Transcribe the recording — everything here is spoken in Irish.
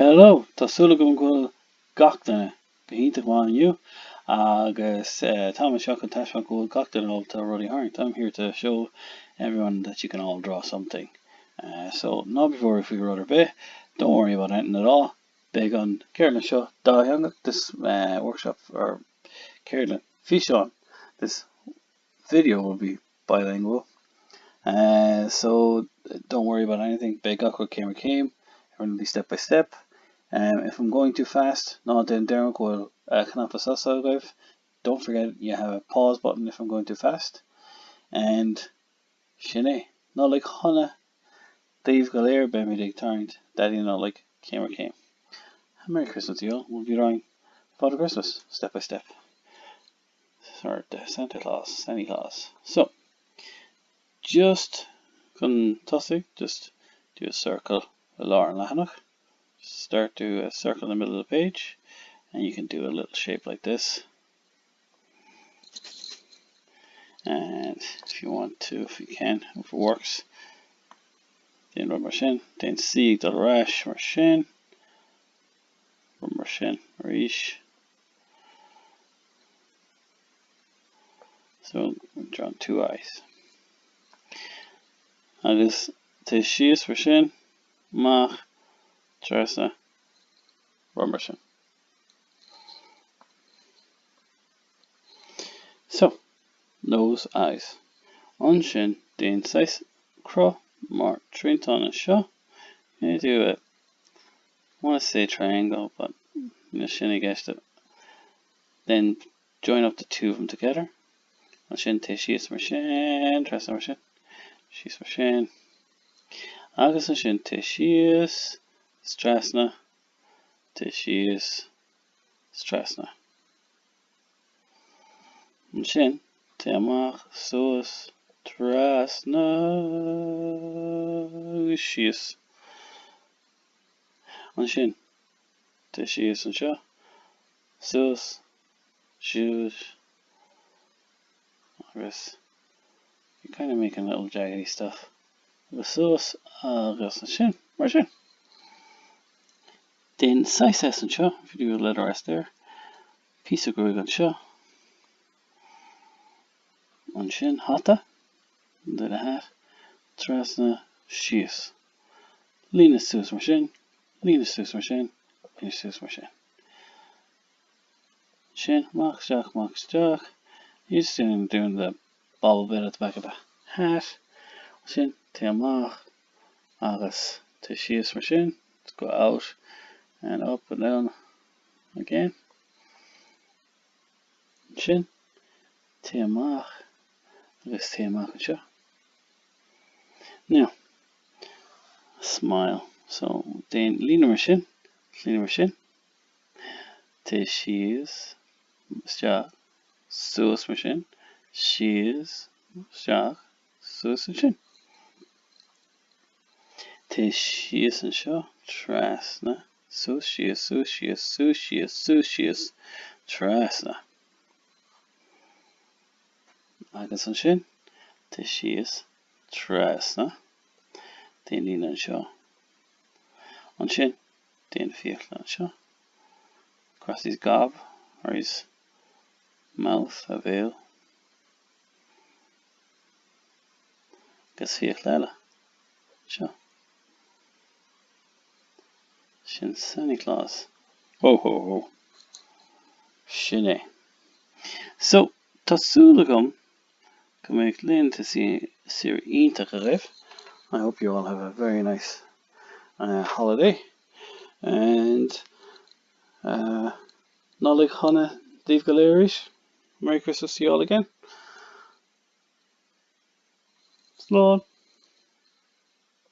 Hello! Tá súil agam go bhfuil gach duine go hiontach maith inniu agus táim anseo chun taispeáint go bhfuil gach duine ábalta rudaí a tharraingt I'm here to show everyone that you can all draw something so ná be worried faoi rud ar bith don't worry about anything at all Beidh an cheardlann seo dátheangach this workshop or ceardlann físeán this video will be bilingual. So, don't worry about anything, beidh gach rud céim ar chéim, everything will be step by step. If I'm going too fast, ná déan deireanach go bhfuil cnaipe sosa agaibh, don't forget you have a pause button if I'm going too fast. And sin é. Nollaig Shona daoibh go léir, beimid ag tarraingt Daidí na Nollag céim ar chéim. Merry Christmas to you all, we'll be drawing Father Christmas step by step. Sort de santa-claus, semi-claus. So, just chun tosaigh, just do a circle i lár an leathanach. Just start do a circle in the middle of the page and you can do a little shape like this. And if you want to, if you can, if it works, déan rud mar sin, déan C ag dul ar ais mar sin, rud mar sin arís. So we've drawn two eyes. Agus téigh síos mar sin, amach, trasna, rud mar sin. So, nose, eyes. Ansin déan saghas cruth mar triantán anseo, want to say triangle but níl sin i gceist then join up the two of them together ansin téigh síos mar sin trasna mar sin síos mar sin agus ansin téigh síos trasna téigh síos trasna ansin téigh amach suas trasna síos Ansin, téigh síos anseo, suas, síos, agus you're kind of making a little jaggedy stuff. Agus suas, agus ansin, mar sin. Déan saghas S anseo, if you do a letter S there. Píosa gruaig anseo. Ansin, hata, do the hat, trasna, síos. Líne suas mar sin, líne suas mar sin, líne suas mar sin. Ansin, amach isteach, amach isteach. You're just doing, doing the bobble bit at the back of the hat. Ansin, téigh amach, agus téigh síos mar sin. Let's go out and up and down again. Ansin, téigh amach, agus téigh amach anseo. Now, smile. So, déan líne mar sin, líne mar sin. Téigh síos, isteach, suas mar sin, síos, isteach, suas ansin. Téigh síos anseo, trasna, suas síos, suas síos, suas síos, suas síos, trasna. Agus ansin, dul síos trasna. Déan líne anseo. Ansin, déan fiacla anseo. Across his gob, or his mouth, a bhéal. Agus fiacla eile. Seo. Sin Santa Claus. Hó hó hó. Sin é. So, tá súil agam go mbeidh laethanta saoire iontach agaibh. I hope you all have a very nice uh, holiday. And uh, Nollaig Shona daoibh go léir arís. Merry Christmas to you all again. Slán.